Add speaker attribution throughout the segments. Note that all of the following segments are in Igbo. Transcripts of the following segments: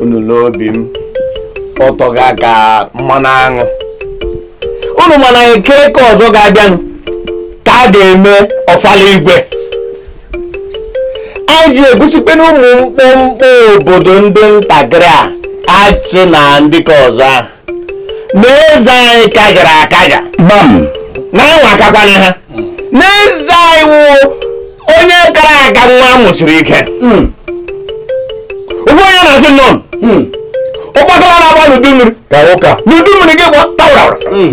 Speaker 1: unu lee obi m ọ tọga ka mmanụ aṅụ unu ma na eke ke ọzọ ga-abịanụ ka a ga-eme ọfala igwe anyị ji egosikwa na ụmụ mkpọmkpọ obodo ndị ntakịrị a achị na ndị ke ọzọ ahụ na eze anyị kajara akaja gbam na-anwa akakwana ha na eze anyị wụ onye kara aka nwa a mụsiri ike Mm. ụfọdụ ya na-asị nọ Mm. ụgbọgala na-agba n'udu mmiri ka ụka n'udu mmiri gị gba tawara Mm.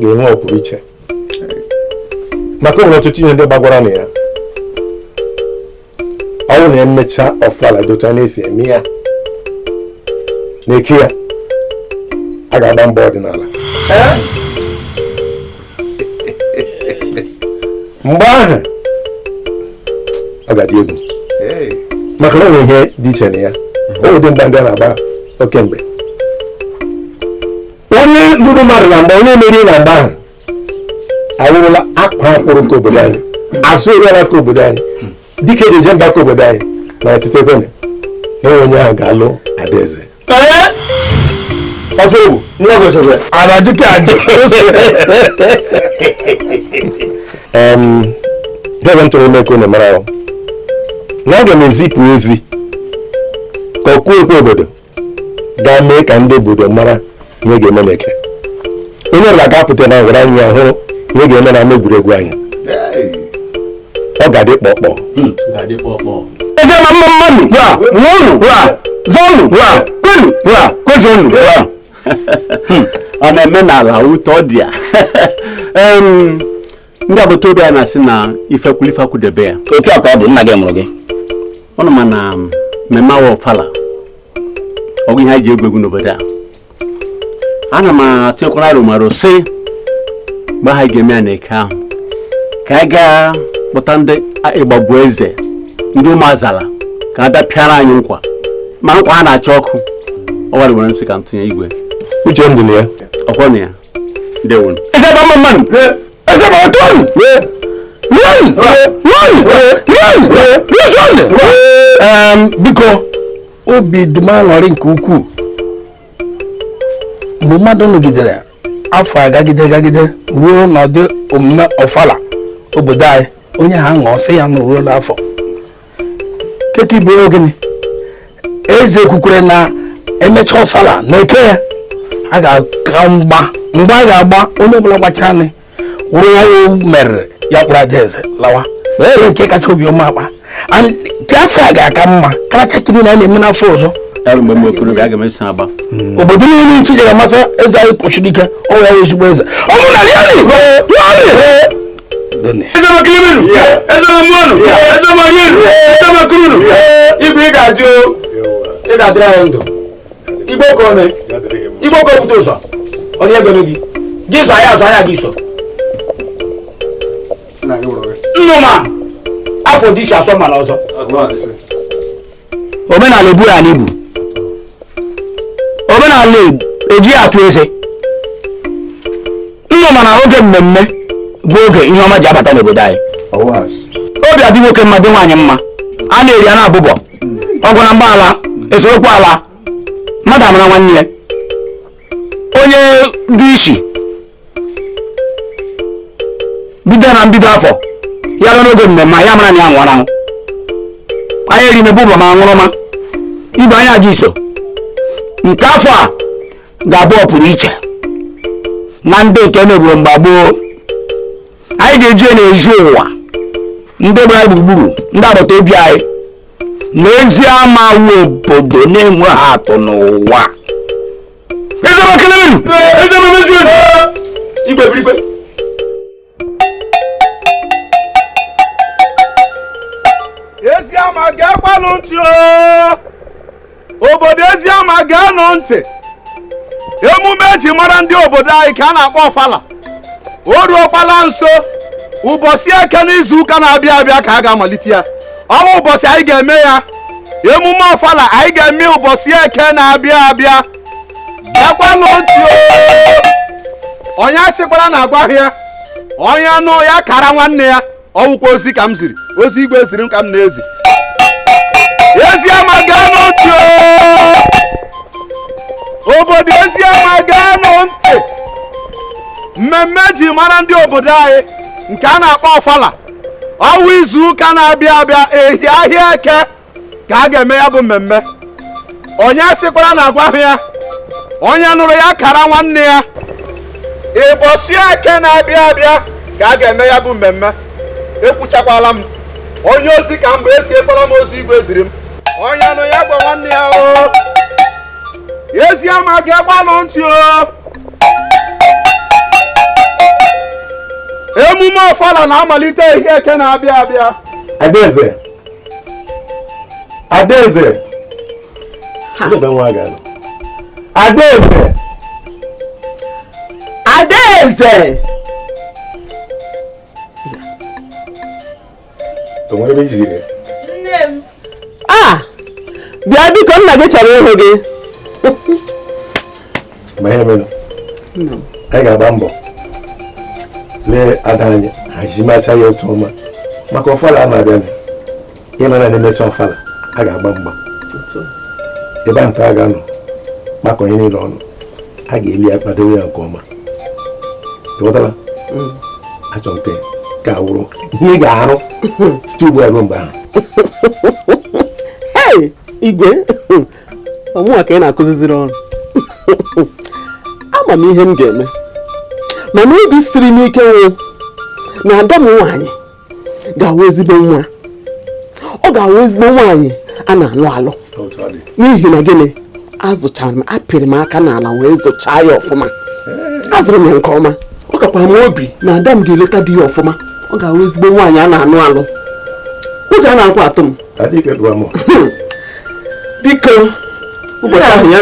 Speaker 1: ga-enwe ọpụrụ iche maka o nwere ọtụtụ ihe ndị gbagwara na ya ọ wụ na e mechaa ọfala dị otu a na-esi eme ya na eke ya a ga-agba mgba ọdịnala mgba ahụ ọ ga-adị egwu maka na o nwe ihe dị iche na ya ọ wụ ụdị mgba ndị a na-agba oge gboo onye lụrụ mmadụ na mgba onye meriri na mgba ahụ awụrụla akwaa akwụrụ nke obodo anyị azụ eru ala nke obodo anyị dike e ji eje mba nke obodo anyị na ọtụtụ ebe na ọ wụ onye ahụ ga-alụ adaeze ọfọ ewu nwa gị ọchọgwa ara dịka adị debe ntụrụ ime ka unu mara ahụ na aga m ezipụ ozi ka ọkụ okwu obodo gaa mee ka ndị obodo mara ihe ga-eme na eke onye ọbụla ga-apụta na ngwuru anyị ya hụrụ ihe ga-eme na ama egwuregwu anyị ọ ga-adị kpọkpọ eze ma mma mmanụ wa ṅụọnụ wa zọnụ wa kwenu wa kwezonụ wa ọ na-eme n'ala ụtọ dị ya ndị agbata obi a na-asị na ife kwụlụ ife akwụdebe ya otu a ka ọ dị nna gị mụrụ gị unu ma na mmemme a wụ ọfala ọ wụghị ihe e ji egwu egwu n'obodo a ana m atụnyekwara aro m aro sị mgbe ha ga-eme ya na eke ahụ ka anyị gaa kpọta ndị ịgbagbu eze ndị ụmụazala ka ha bịa pịara anyị nkwa ma nkwa ha na-acha ọkụ ọ wụ aro m nwere m sị ka m tụnye igwe uche m dị na ya ọkwọ na ya biko obi dị m aṅụrị nke ukwuu mgbe mmadụ nọgidere afọ agagide agagide ruo n'ọdị omume ọfala obodo anyị onye ha ṅụọ sị ya na o ruola afọ keke ibu ogene eze kwukwere na emecha ọfala na eke ya a ga-agba mgba mgbe a ga-agba onye ọbụla gbachaa nị wụrụ ya wụ merie ya kpụrụ ada eze lawa ee nke kacha obiọma akpa And nke afọ a ga-aka mma karịchaa kiri na a na-eme n'afọ ọzọ Ebe m bụ okorobịa aga m eso agba. obodo niile n'iche jere masa eze anyị kpọchiri ike ọ ya wụ ezigbo eze ọ bụ na ya na-ekwe nwanne Done. Ezi ama ekele m unu. Ezi ama mụọnụ. Ezi ama rienụ. Ezi ama kurunụ. Igwe ị ga-adị o. Ị ga-adịrị anyị ndụ. Ị bụ ọkaa ọ mee. Ị bụ ọkaa o buru ụzọ. Ọ na-ego gị. Gị zọ ya azọ ya gị so. Nnụma afọ dị isi asọ mara ọzọ. omenala ebu ya n'ibu omenala eji ya atụ eze ọnụ mana oge mmemme bụ oge ihe ọma ji abata n'obodo anyị obi adị nwoke mma dị nwaanyị mma a na-eri a na-abụbọ ọgụ na mgba alaa esemokwu alaa mmadụ amara nwanne ya onye dị isi bido na mbido afọ ya ruo n'oge mmemme ya mara na ya nwụrụ anwụ anyị eri mebe ụbọ ma aṅụrụma ibe anyị ga-eso nke afọ a ga-abụ ọpụrụ iche na ndị nke e meburu mgbe gboo anyị ga-eji ya na-ezi ụwa ndị gbara anyị gburugburu ndị agbata obi anyị na ezi ama wụ obodo na-enweghị atụ n'ụwa igwe birigwe ezi ama geekwanụ ntị o obodo ezi ama geenụ ntị emume eji mara ndị obodo anyị ka a na-akpọ ọfala o ruokwala nso ụbọchị eke n'izu ụka na-abịa abịa ka a ga-amalite ya ọ wụ ụbọchị anyị ga-eme ya emume ọfala anyị ga-eme ụbọchị eke na-abịa abịa bịakwanụ o onye asịkwala na agwaghị ya onye nụ ya kara nwanne ya ọ wụkwa ozi ka m ziri ozi igwe ziri m ka m na-ezi ezi ama geenụ ntị obodo ezi ama geenụ ntị mmemme eji mara ndị obodo anyị nke a na-akpọ ọfala ọ wụ izu ụka na-abịa abịa ehi ahịa eke ka a ga-eme ya bụ mmemme onye asịkwala na agwaghị ya onye nụrụ ya kara nwanne ya ịbọchị eke na-abịa abịa ka a ga-eme ya bụ mmemme ekwuchakwala m onye ozi ka m bụ eziekwala m ozi igwe ziri m onye nụ ya gwa nwanne ya o ezi ama geekwanụ ntị o emume ọfala na-amalite ahịa eke na-abịa abịa adaeze adaeze adaeze adaeze a ah! bịa biko nna gị chọrọ ịhụ gị ma ihe mere anyị ga-agba mbọ lee ada anyị hazimacha ya otu ọma maka ọfala a na-abịa ị ma na na-emecha ọfala a ga-agba mgba ebe a nta a ga-anọ gbakọọ onye niile ọnụ a ga-eli ya kwadowe ya nke ọma ị ghọtara mm. achọ nke ga-awụrụ ihe ị ga-arụ site ugbu a ruo mgbe ahụ igwe ọ mụwa ka ị na-akụziziri ọrụ ama m ihe m ga-eme mana obi siri m ike wụ na ada m nwaanyị ga-awụ ezigbo nwa ọ ga-awụ ezigbo nwaanyị a na-alụ alụ n'ihi na gịnị azụchara m apịrị m aka n'ala wee zụchaa ya ọfụma azụrụ m ya nke ọma ọ kakwa m obi na ada m ga-eleta di ya ọfụma ọ ga-awụ ezigbo nwaanyị a na-alụ alụ ụjọ anakwa atụ m biko ụbọchị ahụ ya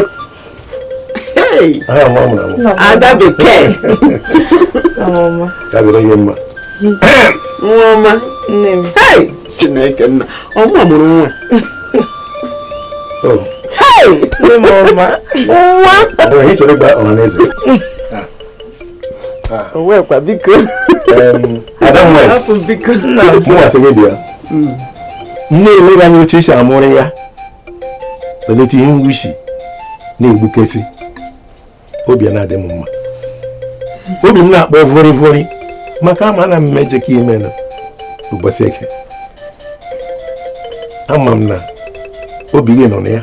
Speaker 1: ada bekee nwa ọma nne m chineke nna ọma mụrụ nwa oh. ọ wụkwa biko mụwa sị gị bịa nne elere anya oche isi amụrụ ya belata ihe ngwuchi na-egbukesị obi a na-adị m mma obi m na-akpọ vori vori maka ama na m meje ka ime na ụbọchị eke ama m na obi gị nọ na ya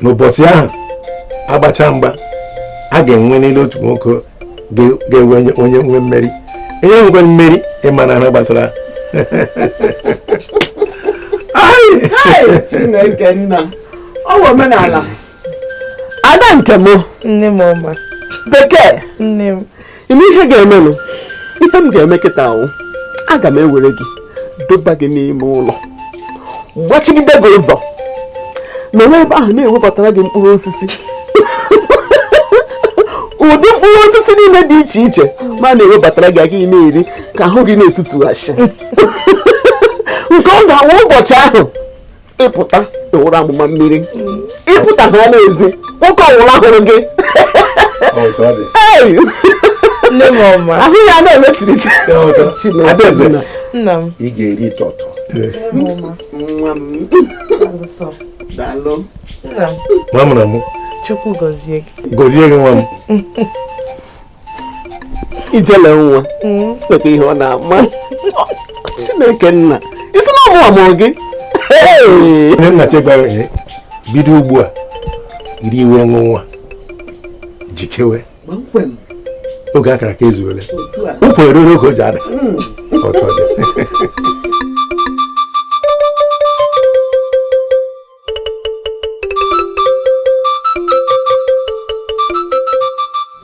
Speaker 1: n'ụbọchị ahụ a gbachaa mgba a ga-enwe n'elu otu nwoke ga-enwe onye nwe mmeri onye nwekwa mmeri ị ma na ha gbasara Chineke nna ọ wụ omenala ada nke m nne m ọma bekee nne m ị ma ihe ga-emenụ ihe m ga-eme kịta wụ aga m ewere gị doba gị n'ime ụlọ gbachigide gị ụzọ nọwa ebe ahụ na-ewebatara gị mkpụrụ osisi ụdị mkpụrụ osisi niile dị iche iche m ana-ewebatara gị ị ga na-eri ka ahụ gị na-etutughasị nke ọ ga-awụ ụbọchị ahụ ị pụta ị wụrụ amụma mmiri ị pụta ha n'ezi nwoke ọwụla hụrụ gị ahụ ya na-emetirite nna m ị ga-eri tọtọ nwa m daalụ nna m nwa m na mụ chukwu gọzie gị gọzie gị nwa m ijele nwa nweta ihe ọ na-ama chineke nna isi na ọmụ ọmụ gị nne nna chegwara bido ugbu a iri iwe ọṅụ nwa jikewe oge akara aka ezuole ụkwụ eruru oge o ji ada ọtọ dị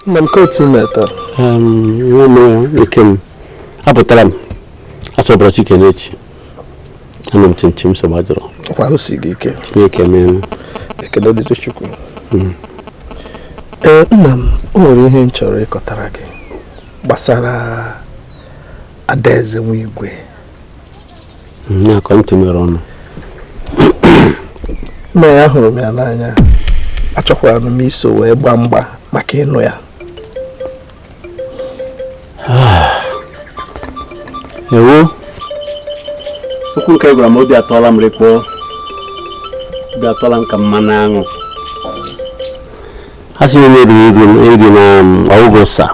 Speaker 1: nna m kotu meta nwa m nke m apụtara m achọbara chike n'echi anọ m chimchim nsogbu adịrọ kwa o si gị ike chineke meela ekele dịrị chukwu hmm. ee nna m o nwere ihe m chọrọ ịkọtara gị gbasara adaeze nwa igwe na ka m tinyere ọnụ nna m ahụrụ m ya n'anya achọkwara m iso wee gbaa mgba maka ịnụ ya ewo okwu nke ị gwara m obi atọla m rịkpọọ obi atọla m ka mmanụ aṅụ ha sị onye riri ego eri na ọgwụgwụ sa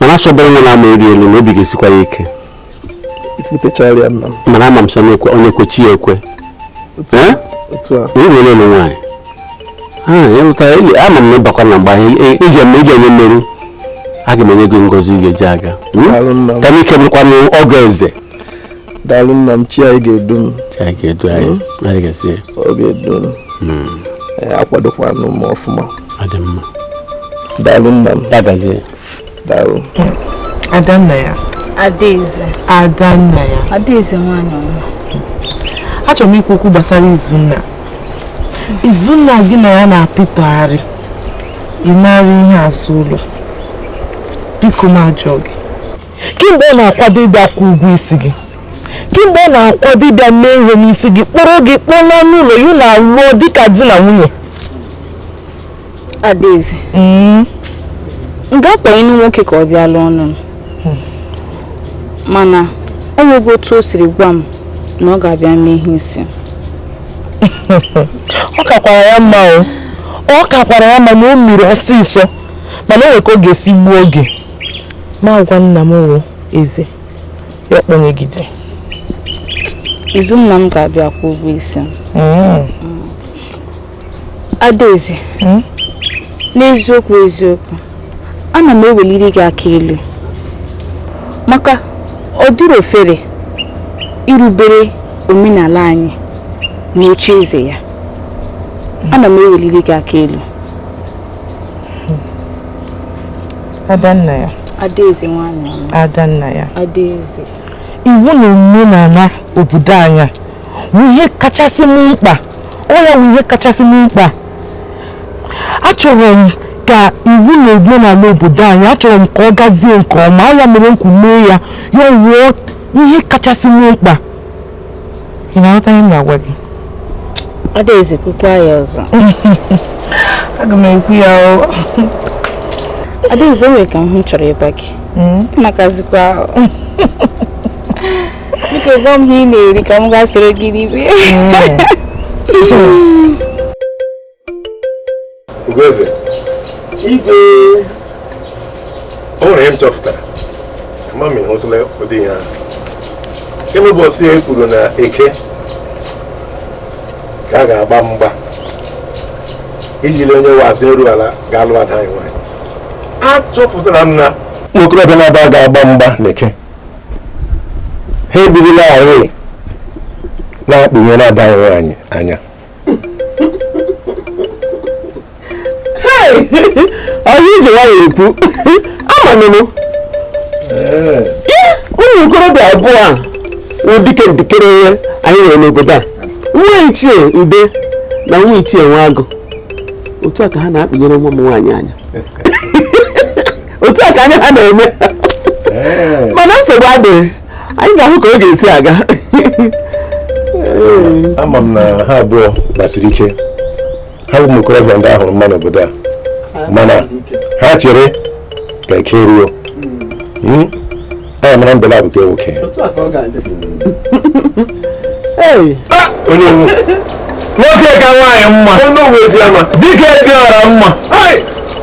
Speaker 1: mana asọbara nwa na-ama eri elu na obi ga-esikwa ya ike mana ama m sị onye kwe chi ya ekwe onye nwere ụlọ nwaanyị ama m na ị bakwa na mgba ị ga-enwe mmeri aga m enye gị ngozi ị ga-eji aga ka m ike bụrụkwa ọgọ eze daalụ nna m chi anyị ga-edu m chi anyị ga-edu anyị hmm? anyị ga-esi ọ ga-edu m hmm. akwadokwanụ m ọfụma ọ dị mma daalụ nna m ya gazie daalụ adanna ya adaeze adanna ya adaeze nwanyị ọma achọrọ m ikwu okwu gbasara izunna izunna gị na ya na-apịtọgharị emegharị ihe azụ ụlọ biko m ajụọ gị kee mgbe ọ na-akwado ịbịa kwụọ ụgwọ isi gị kee mgbe ọ na-akwado ịbịa mee ihe n'isi gị kpọrọ gị kpọlaa n'ụlọ ya na alụọ dịka di na nwunye adaeze mm. m ga-akpọ ịnụ nwoke ka ọ bịa lụọnụ m hmm. mana ọ nweghị otu o siri gwa m na ọ ga-abịa mee ihe isi ọ kakwara ya mma o ọ kakwara ya mma na o mere ọsịsọ mana o nwere ka ọ ga-esi gbuo oge m agwa nna m wụ eze ya ọkpọnyegide izu nna m ga-abịa kwụ ụgwọ isi m mm. Mm. adaeze mm? n'eziokwu eziokwu ana m eweliri gị aka elu maka ọ dịrọ ofere irubere omenala anyị na oche eze ya ana m eweliri gị aka elu Adannaya. Adaeze nwaanyị ọma. Adannaya. Adaeze. Iwu na omenala obodo anyị wụ ihe kachasị m mkpa. Ọ ya wụ ihe kachasị m mkpa. Achọrọ m ka iwu na omenala obodo anyị achọrọ m ka ọ gazie nke ọma. Ọ ya mere m kwuru mee ya ya ọ wụọ ihe kachasị m mkpa. ị na-aghọta ihe m na-agwa gị adaeze kwukwa ya ọzọ aga m ekwu ya o adaeze e nwere ka m hụ chọrọ ịgwa gị hmm? ị makazikwa biko gwa m ihe ị na-eri ka m gaa soro gị ribe hmm. Ugoeze, igwe o nwere ihe m chọpụtara ma m hụtụla ụdị ihe ahụ kemgbe ụbọchị e kwuru na eke ka a ga-agba mgba iji lee onye wụ azụ eru ala ga-alụ ada anyị nwaanyị achọpụtara m na ụmụ okorobịa naabọ ga-agba mgba na eke ha ebirilarị na-akpịnyere ada anyị nwaanyị anya ọ wụ ya i ji nwayọ ekwu amanụ m ụmụ okorobịa abụọ a wụ dike ndịkere ihe anyị nwere n'obodo a nwa ichie ude na nwa ichie nwa agụ otu a ka ha na-akpịnyere nwa m nwaanyị anya otu a ka anya ha na-eme mana nsogbu adịghị anyị ga-ahụ ka ọ ga-esi aga ama m na ha abụọ gbasiri ike ha bụ ụmụ okorobịa ndị a hụrụ mma n'obodo a mana ha chere ka eke ruo hmm? anyị amara mbe laabụ ke nwoke ah! onye nwoke ka nwaanyị mma dike dị ọra mma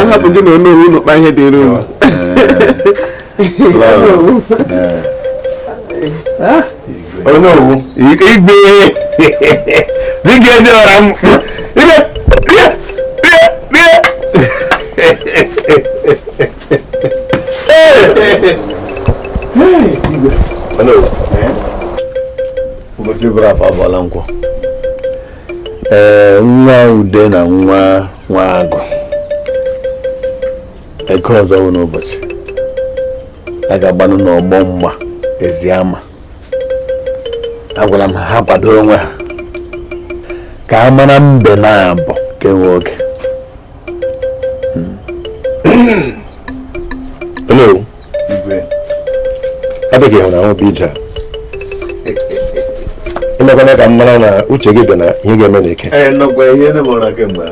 Speaker 1: ahapụ gị na onye unu kpa ihe dịrị unu onye owu igwe dịka ezi ọra m ibe bịa bịa bịa ụbọchị bụrụ afọ abụọla nkwọ ee nwa ude na nwa nwa agụ eke ọzọ wụ n'ụbọchị a ga-agbanụ n'ọgbọ mgba eziama agwara m ha kwado onwe ha ka a mara mbe naabọ nke wụ oke igwe ọ dị gị hụ na ahụ bụ ije a emekwana ka m mara na uche gị dị na ihe ga-eme na eke ee nọkwa ihe ndị mụrụ kemgbe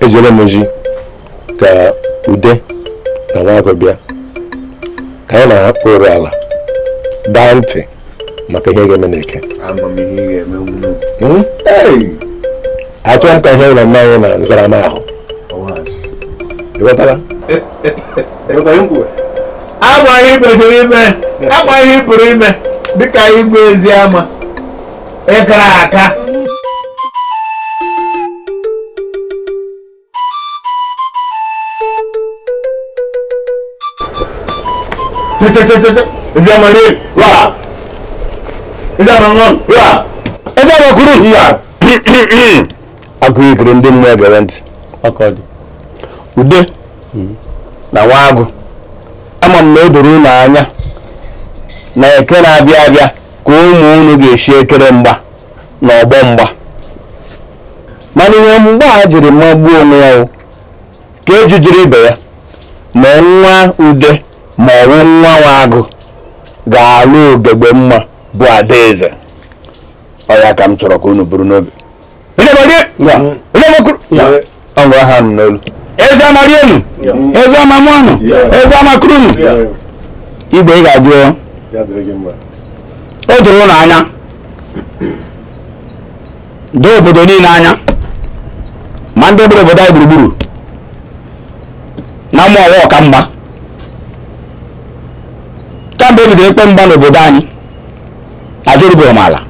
Speaker 1: ejere m ozi ka ude na nwa agụ bịa ka anyị na-akpụrụ ala daa ntị maka ihe ga-eme n'eke achọghị m ka ihe mere nna anyị na nzara m ahụ ịghọtara ama ihe kwesịrị ime ama ihe pụrụ ime dịka igwe eziama ịkara aka Eziama rie wa. Eziama ṅụọ wa. Eziama kuru wa. Akụọ ikiri ndị mmụọ egere ntị. Ọ ka ọ dị. Ude na nwa agụ. Ama m na o doro unu anya na eke na-abịa abịa ka ụmụ unu ga-esi ekere mgba. na ọgbọ mgba mana ihe mgba a jiri magbuo onwe ya wụ ka eji jiri ibe ya ma nwa ude ma ọwụ nwa nwa agụ ga-alụ ogegbe mma bụ adaeze ọ ya ka m chọrọ ka unu buru n'obi Onye ma gị? Onye ma kụrụ? Ọ bụ aha nụ n'olu. eziama rienu eziama mụọnụ eziama kurunu igwe ị ga-adị oo. Ya dịrị gị mma. o doro unu anya doo obodo niile anya ma ndị gbara obodo anyị gburugburu na mụ wụ ọka mgba kamgbe e bidoro ịgba mgba n'obodo anyị azụ erubeghị m ala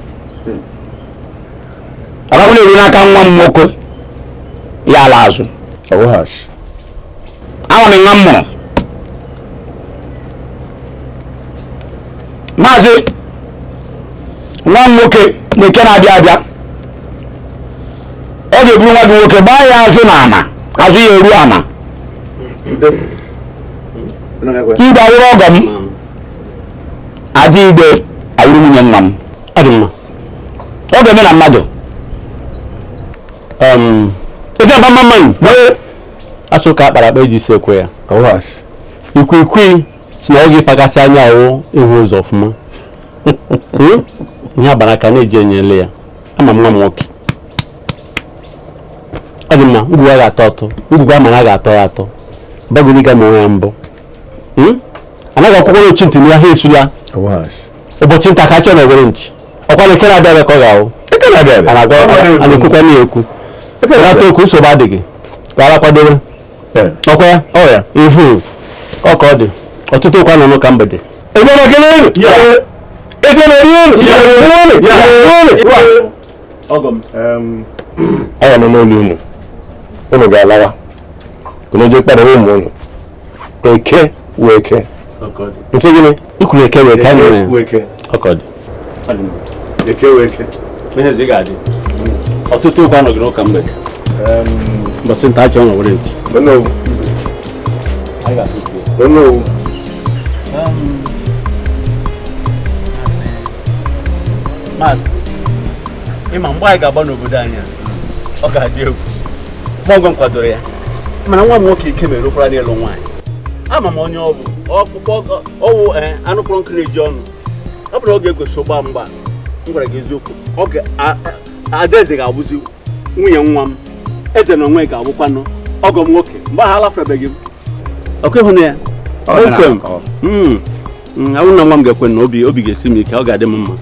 Speaker 1: ọ ga-awụ na eruo n'aka nwa m nwoke ya ala azụ ọwụghachi ama m nwa m mụrụ mazie nwa m nwoke na eke na-abịa abịa ọ ga-eburu nwa gị nwoke gbaa ya azụ na ana azụ ya eru ana igwe awụrụ ọgọ m ada igwe awụrụ nwunye nwa m ọ dị mma ọ ga-eme na mmadụ um, ofe akpa mma mmanụ asụ ka akpara akpa eji isi ekwe ya ikwikwii sị na ọ wụghị ịpagasị anya wụ ịhụ ụzọ ọfụma hmm? ihe agbara aka na-eji enyo ele ya ama nwa m nwoke ọ dị mma ngwugwu a ga-atọ atọ ngwugwu a mara a ga-atọ ya atọ abaghị uru ịga ma onwe ya mbọ hmm? anaghị agwakwanụ ochi ntị na agha esula ụbọchị nta ka achụọ na owere nchi ọkwa na ekere abịa ka ọ ga-ahụ ekere abịa a na-ekwukwa na ekwu ekere ata okwu nsogbu adịghị ka ara kwadowe ọkwa ya ọya ihu ọ ka ọ dị ụtụtụ okwu anọghị n'ụka mgbede ebe na ekele elu eze na eri elu anya nọ n'ụlọ unu unu ga-alawa unu jee kpara ụmụ unu eke wee eke nsị gịnị ikwuru eke wee ka mere ọkọdị eke wee ke ihe ị ga-adị ụtụtụ okwu anọghị n'ụka mgbede mbọsị nta achụọ na owere nchi ịma mgbe anyị ga-agba n'obodo anyị ọ ga-adị egwu ma ọgọ m kwadoro ya mana nwa m nwoke ike mere okwara n'elu nwaanyị ama m onye ọ bụ ọwụ eh, anụ kpọrọ nkụ na-eju ọnụ ọ bụrụ ọ ga-egosi ịgba mgba m gwara gị eziokwu oge adaeze ga-abụzi nwunye nwa m eze na onwe ga-abụkwanụ ọgọ m nwoke mgbe ahụ alafebeghị m ọkụ ịhụ na ya hmm. hmm, awụ na nwa m ga-ekwe na obi obi ga-esi m ike ọ ga-adị m mma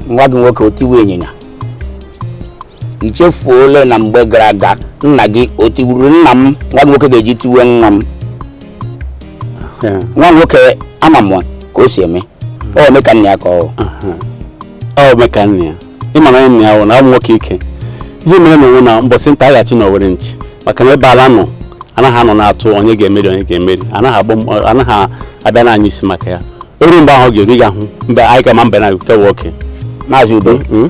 Speaker 1: nwa gị nwoke otiwe ịnyịnya i chefuola na mgbe gara aga nna gị o tigburu nna m nwa nwoke ga-eji tiwe nwa m Yeah. nwa nwoke ama m ka o si eme ọ eme ka nna ya ka ọ ọ bụ ka nna ya ịma na nna ya wụ na ọ bụ nwoke ike ihe mere na onwe na mbọsị nta a ga-achụ na owere nchi maka na ebe ala nọ anaghị anọ na-atụ onye ga-emeri onye ga-emeri anaghị agba m- anaghị abịa n'anyasị maka ya o ruo mgbe ahụ ọ ga-eru ga hụ mgbe anyị ga-ama mbe na nke nwoke maazị udo Mm?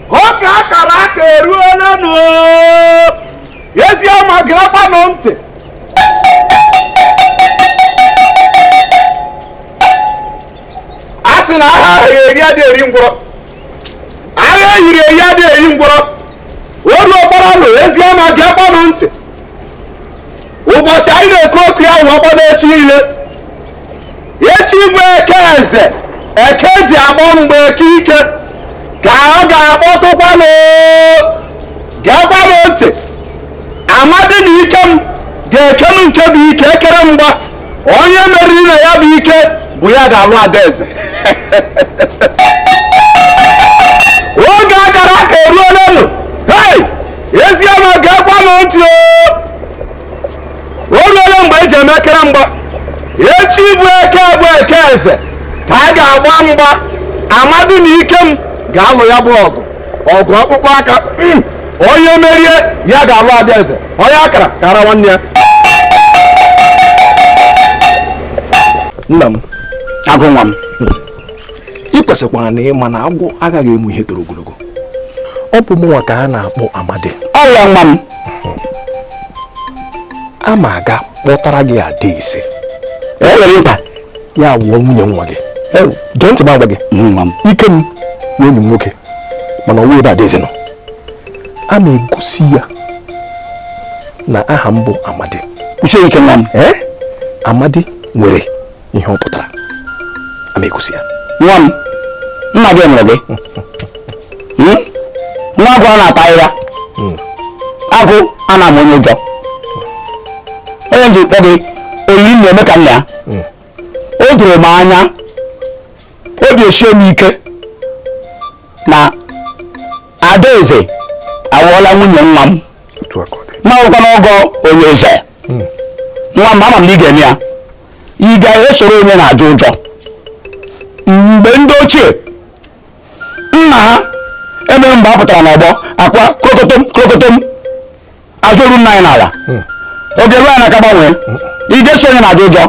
Speaker 1: oge akara aka eruolenụ eziama gerekwanụ ntị a sị na agha eyiri adị eri ngwọrọ agha eyiri eyi adị eri ngwọrọ o rukwalanụ eziama gerekwanụ ntị ụbọchị anyị na-ekwu okwu ya wụbakwanụ echi niile echi bụ eke eze eke ji akpọ mgbe eke ike ka ọ ga-akpọtụkwanụ geekwanụ ntị amadi na ikem ga-ekelu nke bụ ike ekere mgba onye meriri na ya bụ ike bụ ya ga-alụ adaeze oge a kara aka eruolenụ hei ezi ama geekwa m ntị o o ruola mgbe e ji emekere mgba echi bụ eke bụ eke eze ka a ga-agba mgba amadi na ikem ga-alụ ya bụ ọgụ ọgụ akpụkpọ aka hmm. onye merie ya ga-alụ ada eze onye a kara kaara nwanne ya nna m agụ nwa m ị kwesịkwara ịma na agwọ aghaghị ịmụ ihe toro ogologo ọ bụ mụnwa ka a na-akpọ amadi ọ ya nwa m a ma aga kpọtara gị ada eze ya wụọ nwunye nwa gị gee ntị m agwa gị ikem wụ enyi m nwoke mana ọ wụ ebe adaeze nọ a ma egosi ya na aha m bụ amadi kwụsie ike nwa m ee amadi nwere ihe ọ pụtara a ma egosi ya nwa m nna gị nwere gị hmm? nwa agụ a na-ata ahịhịa hmm. agụ a na-amụ onye ụjọ ọ ya m ji kpọ gị oyi nna ome ka nna ya hmm. o doro m anya obi esie m ike na adaeze awụọla nwunye nwa m m awụkwanụ ọgọ onye eze nwa m ama m na ị ga-eme ya ị ga-esoro onye na-ajụ ụjọ mgbe ndị ochie nna ha emere mgbe a pụtara n'ọgbọ akwa krokotom krokotom azụ eru nna anyị n'ala hmm. oge ruo anyị n'aka gbanwee ị ga-eso onye na-ajụ ụjọ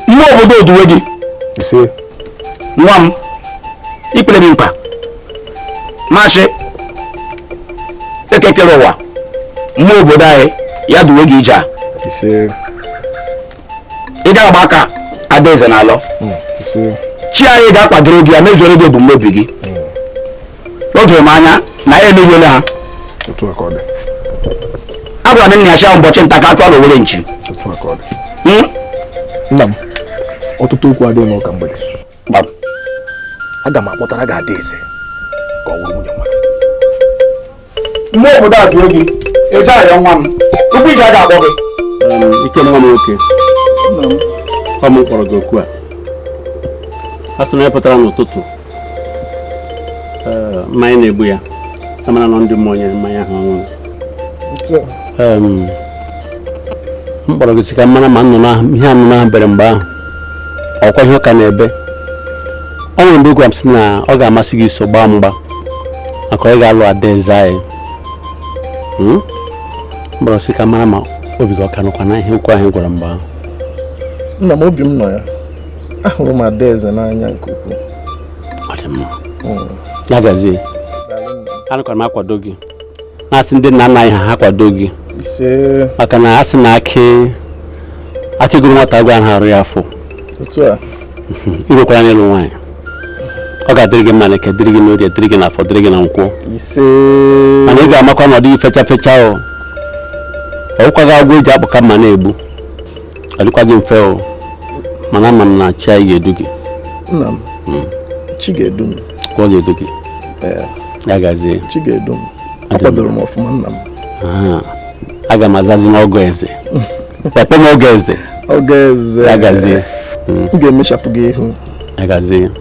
Speaker 1: mmụọ obodo duwe gị nwa m ikpere m mkpa ma chi eke kere ụwa mmụọ obodo anyị ya duwe gị ije a ị gaghị agba aka adaeze na-alọ chi anyị ga-akwadoro gị ya mezuoro gị ebumnobi gị o doro m anya na ya emeghele ha agwara m nna ya shị ụbọchị nta ka a chụọ n'owere nchi nna m ọtụtụ okwu adịghị n'ụka mgbede aga m akpọtara gị ada eze ka ọ nwunye nwa gị mgbe obodo a dị oge eje ahịa nwa m tupu iji aga akpọ gị ike nwa m nwoke ọ m kpọrọ gị oku a a sị onye pụtara n'ụtụtụ mmanya na-egbu ya a mara na ọ ndị mmụọ nyere mmanya ahụ ọṅụṅụ m kpọrọ gị sị ka m mara ma nnụnụ ahụ ihe nnụnụ ahụ bere mgbe ahụ ọkwa ihe ụka na-ebe ọ nwere mgbe ị gwara m sị na ọ ga-amasị gị iso gbaa mgba maka onye ga-alụ adaeze anyị Hmm? m bịara sị ka m mara ma obi gị ọ ka nọkwa na ihe okwu ahụ ị gwara m mgbe ahụ nna m obi m nọ ya ahụrụ m adaeze n'anya nke ukwuu ọ dị mma Mm. ya gazie Daalụ nna m. anọkwara m akwado gị na-asị ndị nna nna anyị ha ha kwado gị maka na a sị na akị akị gụrụ nwata agụụ anaghị arụ ya afọ i rukwara n'ịlụ nwaanyị ọ ga-adịrị gị mma na eke dịrị gị n'orie dịrị gị n'afọ dịrị gị na nkwọ mana ị ga-amakwa na ọ dịghị fecha fecha ọ ọwụkwaghị agwọ eji akpụka mma na-egbu ọ dịkwaghị mfe o mana ama m na chi anyị ga-edu gị nna m hmm. chi ga-edu m ọ ga-edu gị ya gazie chi ga-edu m akwadoro m ọfụma nna m aga m azazi n'ọgọ eze papa m ọgọ eze ọgọ eze ya gazie hmm. m ga-emechapụ gị ihu ya gazie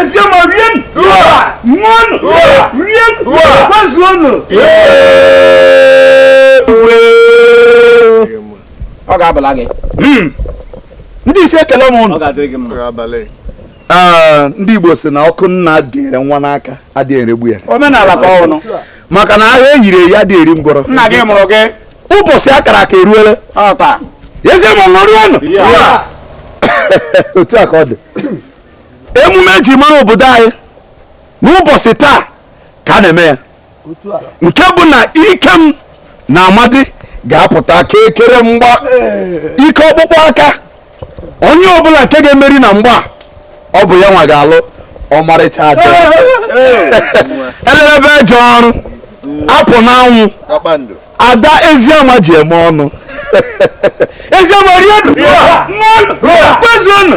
Speaker 1: eziama rie ṅụọnụ rie gbazuonụ ọ ga-abala gị hmm. ndị isi ekele m ụnụ ndị Igbo si na ọkụ nna gụnyere nwa n'aka adịghị eregbu ya omenala ka ọnụ maka na agha eyiri eyi adị eri ngwọrọ nna gị mụrụ gị ụbọchị akara aka eruola ọha eziama ṅụrịanụ Ya. otu a ka ọ dị emume eji mara obodo anyị n'ụbọchị taa ka a na-eme ya nke bụ na ikem na amadi ga-apụta ka ekere mgba ike ọkpụkpụ aka onye ọbụla nke ga-emeri na mgba ọ bụ ya nwa ga-alụ ọmarịcha ada elelebe eje ọrụ apụ n'anwụ ada eziama ji eme ọnụ eziama rie kwezuonụ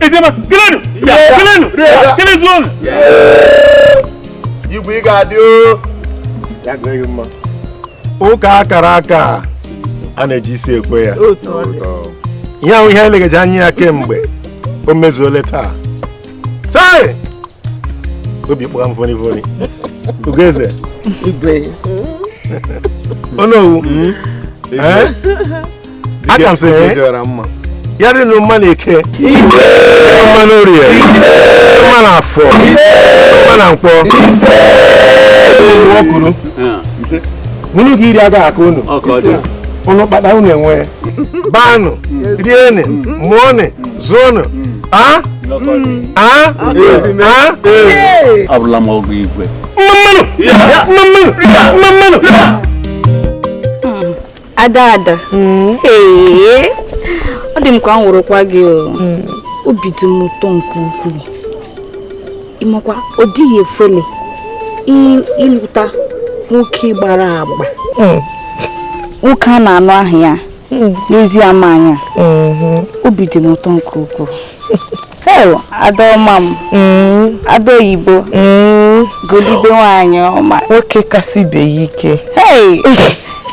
Speaker 1: Eziama, kelenụ! Kelenụ! Kelezu ọnụ! Igwe ị ga-adị o! Ya dịrị gị mma. Ụka akara aka a na-eji isi ekwe ya. Ihe ahụ ihe elegeji anya ya kemgbe o mezuole taa. Chai! Obi kpọrọ m voni voni. Ugoeze. Igwe. Onowu. Hmm? Eh? aka m sị ya dịrị unu mma n'eke mma n'orie mma n'afọ mma na nkwọ ọkụrụ unu ga-eri agaghị akọ unu unu kpata unu enwee baanụ rienụ mụọnụ zụọnụ a a a abụla m ọgụ igwe mmanụ mmanụ mmanụ ada ada hmm. ọ dị m ka m wụrụkwa gị hmm. obi dị m ụtọ nke ukwuu ị makwa ọ dịghị efele ịlụta nwoke gbara agba hmm. nwoke a na-anụ ahụ ya n'ezi ama anya obi dị m ụtọ nke ukwuu Heo, Adaoma m. Mm. Ada oyibo. Mm. Golibe nwaanyị ọma. Nwoke kasị ibe ya ike. Hey!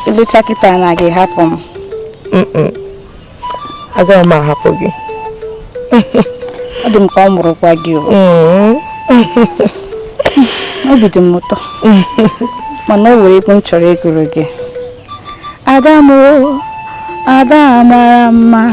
Speaker 1: Ị lụcha kịta na ị ga-ahapụ m. Agaghị m ahapụ gị. Ọ dị m ka m wụrụkwa gị o. Mm. Obi dị m ụtọ. Mana o nwere egwu m chọrọ ịgụrụ gị. Ada m o, Ada mara mma.